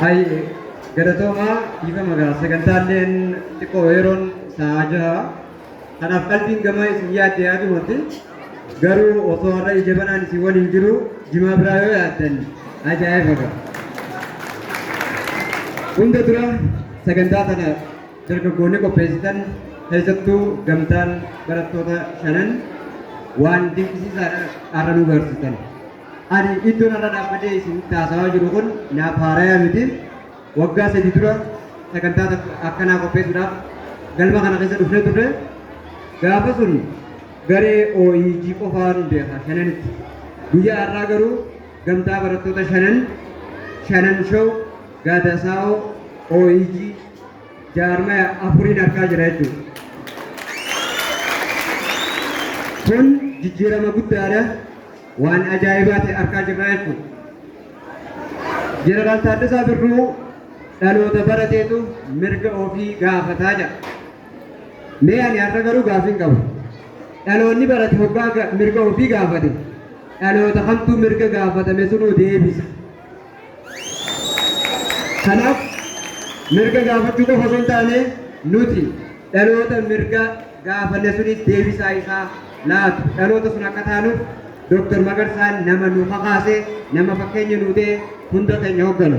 Hayyee galatoomaa dhiifama ga'a sagantaalleen xiqqoo yeroon sa'aa jaha kanaaf qalbiin gamaa isin yaadde yaadumatti garuu osoo har'a ija banaan isin waliin jiru jimaa biraa yoo yaaddan ajaa'iba ga'a. Hunda dura sagantaa kana dargaggoonni qopheessitan keessattuu gamtaan barattoota shanan waan dinqisiisaadha har'a nu garsiitan. Ani iddoon har'a dhaabbadee isin taasawaa jiru kun naaf haaraya miti. Waggaa sadii dura sagantaa tokko akkanaa qopheessuudhaaf galma kana keessa dhufnee turre. Gaafa sun garee OEG qofaan beeka shananitti. Guyyaa har'aa garuu gamtaa barattoota shanan shanan show gaadaasaa'oo OEG jaarmaya afuriin argaa jira jechuudha. Kun jijjiirama guddaadha. Waan ajaa'ibaa ta'e argaa jirra jechuudha. Jeneraal Taaddasaa Birruu dhaloota barateetu mirga ofii gaafataa jira. Mee ani har'a garuu gaaffiin qabu. Dhaloonni barate hoggaa ga- mirga ofii gaafate dhaloota kamtuu mirga gaafatame sunuu deebisa. Kanaaf mirga gaafachuu qofa osoo hin taane nuti dhaloota mirga gaafanne suniif deebisaa isaa laatu dhaloota sun akka taanuuf Dr. Magarsaan nama nu kakaase, nama fakkeenya nuu ta'e hunda keenya hogganu.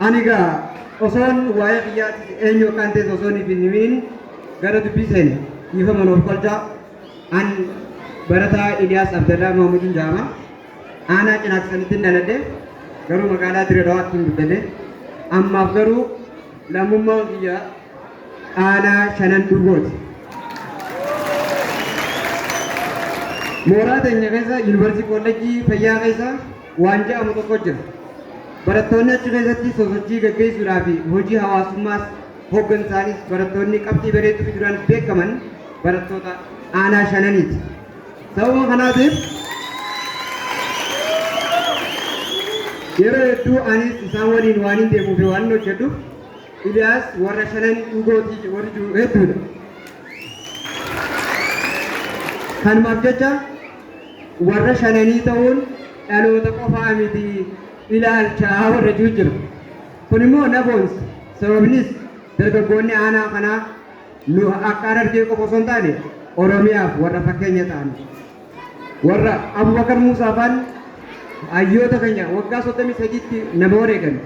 Ani egaa osoon waa'ee biyyaatti eenyu akkaan ta'es osoon hin himiin gara dubbii seene dhiifama nuuf kolchaa. An barataa Iliyaas Abdallaa Mahmudiin jedhama. Aanaa Cinaaksanittin dhaladhe, garuu magaalaa Dire Dhawaattin guddadhe. Ammaaf garuu lammummaan kiyya Aanaa Shanan Duubooti. Mooraa teenya keessa Yuunivarsiitii Koollejjii Fayyaa keessa waan ja'amu tokko jira. Barattoonni achi keessatti sosochii gaggeessuudhaa fi hojii hawaasummaas hoggansaanis barattoonni qabxii bareedduu fiduudhaan beekaman barattoota Aanaa Shananiiti. Sababa kanaatiif yeroo hedduu anis isaan waliin waanin deemuu fi waanin hojjedhuuf Iliyaas warra shanan dhugootii warri jiru hedduudha. Kanumaaf jecha warra shananii ta'uun dhaloota qofaa miti ilaalcha warra jiru jira. Kun immoo na boonsa. Sababnis dargaggoonni aanaa kanaa nu akka Harargee qofa osoo hin taane Oromiyaaf warra fakkeenya ta'an warra Abubakar Muusaa faan hayyoota keenya waggaa 33tti nama wareegan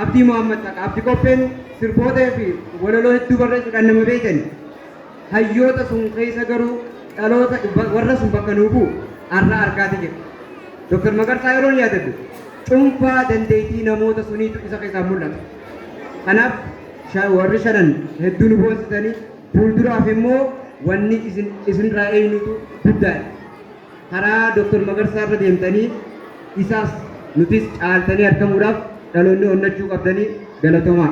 Abdii Muhammad Taqa Abdi Qopheen sirboota fi walaloo hedduu barreessuudhaan nama beekan hayyoota sun keessa garuu dhaloota warra sun bakka nuu bu'u har'a argaati jira. Dr. Magarsaa yeroon yaadadhu cuunfaa dandeettii namoota suniitu isa keessaa mul'ata. Kanaaf sha- warri shanan hedduu nu boonsitanii fuulduraaf immoo wanni isin isinirraa eeynutu guddaadha. Karaa Dr. Magarsaa irra deemtanii isaas nutis caaltanii argamuudhaaf dhaloonni onnachuu qabdanii galatoomaa.